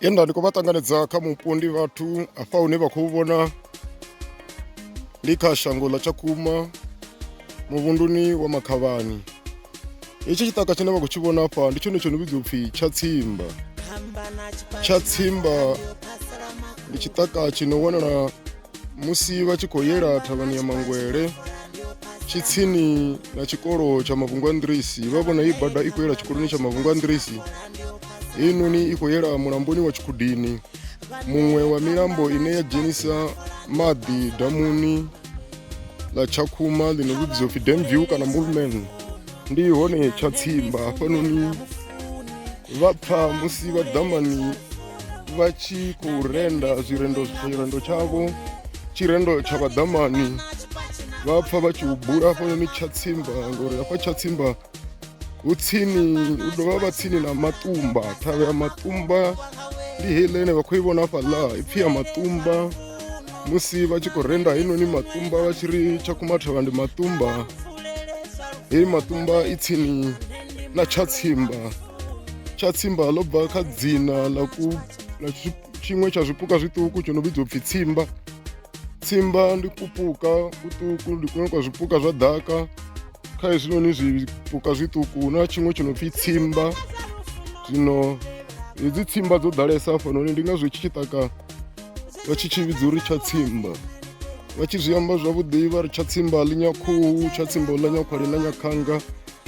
ye nda ndi khou vha ṱanganedza kha mupo ndi vhathu afha hune vha khou vhona ndi kha shango ḽa tshakhuma muvhunduni wa makhavhani hetshi tshiṱaka tshine vha khou tshi vhona afha ndi tshone tsho no vhidzwa upfhi tshatsimba tshatsimba ndi tshiṱaka tshi no wanala musi vha tshi khou yela thavhani ya mangwele tshitsini na tshikolo tsha mavhungu a nḓirisi vha vhona i bada i khou yela tshikoloni tsha mavhungu a nḓirisi heinoni i khou yela mulamboni wa tshikhudini muṅwe wa milambo ine ya dzhenisa maḓi damuni ḽa tshakhuma ḽino vhidziwa pfhi dam view kana mulman ndi hone tshatsimba hafhanoni vha pfa musi vha ḓamani vha tshi khou renda zwirendo tshirendo tshavho tshirendo tsha vhaḓamani vha pfa vha tshi u bula hafhanoni tshatsimba ngori hafha tshatsimba hu tsini hu dovha vha tsini na matumba thavha ya matumba ndi heiḽa ine vha khou i vhona fhaḽa ipfhi ya matumba musi vha tshi khou renda heinoni matumba vha tshi ri tshakumathavha ndi matumba heyi matumba i tsini ḽa tshatsimba tshatsimba ḽo bva kha dzina ḽa ku ḽa tshiṅwe tsha zwipuka zwiṱuku tsho no vhidzwa upfhi tsimba tsimba ndi kupuka kuṱuku ndi kuṅwe kwa zwipuka zwa ḓaka kha hezwinoni zwipuka zwiṱuku hu na tshiṅwe tsho no pfhi tsimba zwino hedzi tsimba dzo ḓalesa hafhanoni ndi ngazwo tshi tshi taka vha tshi tshi vhidza uri tsha tsimba vha tshi zwi amba zwavhuḓi vha ri tsha tsimba ḽi nyakhuhu tsha tsimba ḽa nyakhwali na nyakhanga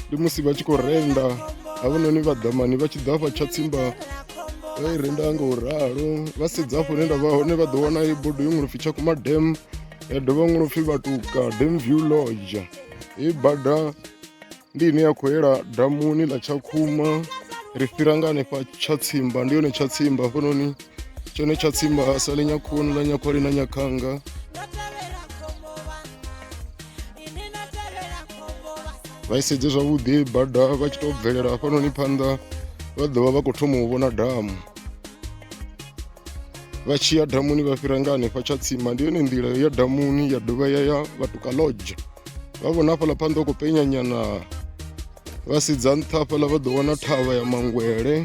ndi musi vha tshi khou renda havhanoni vhaḓamani vha tshi ḓa fha tsha tsimba vha i renda nga u ralo vha sedza afho hune nda vha hone vha ḓo wana i bodo yo ṅwelopfi tsha kuma dam ya dovha ṅwelopfi vhatuka dam view lodge i bada ndi ine ya khou yela damuni ḽa tshakhuma ri fhira nga hanefha tsha tsimba ndi yone tsha tsimba hafhanoni tshone tsha tsimba sa ḽi nyakhoni ḽa nyakhwali na nyakhanga vha isedze zwavhuḓi bada vha tshi tou bvelela hafhanoni phanḓa vha ḓovha vha khou thoma u vhona damu vha tshi ya damuni vha fhira nga hanefha tsha tsima ndi yone nḓila ya damuni ya dovha ya ya vhatuka lodge vha vhona hafhaḽa phanḓa u khou penyanyana vha sedza nṱha hafhaḽa vha ḓo wana thavha ya mangwele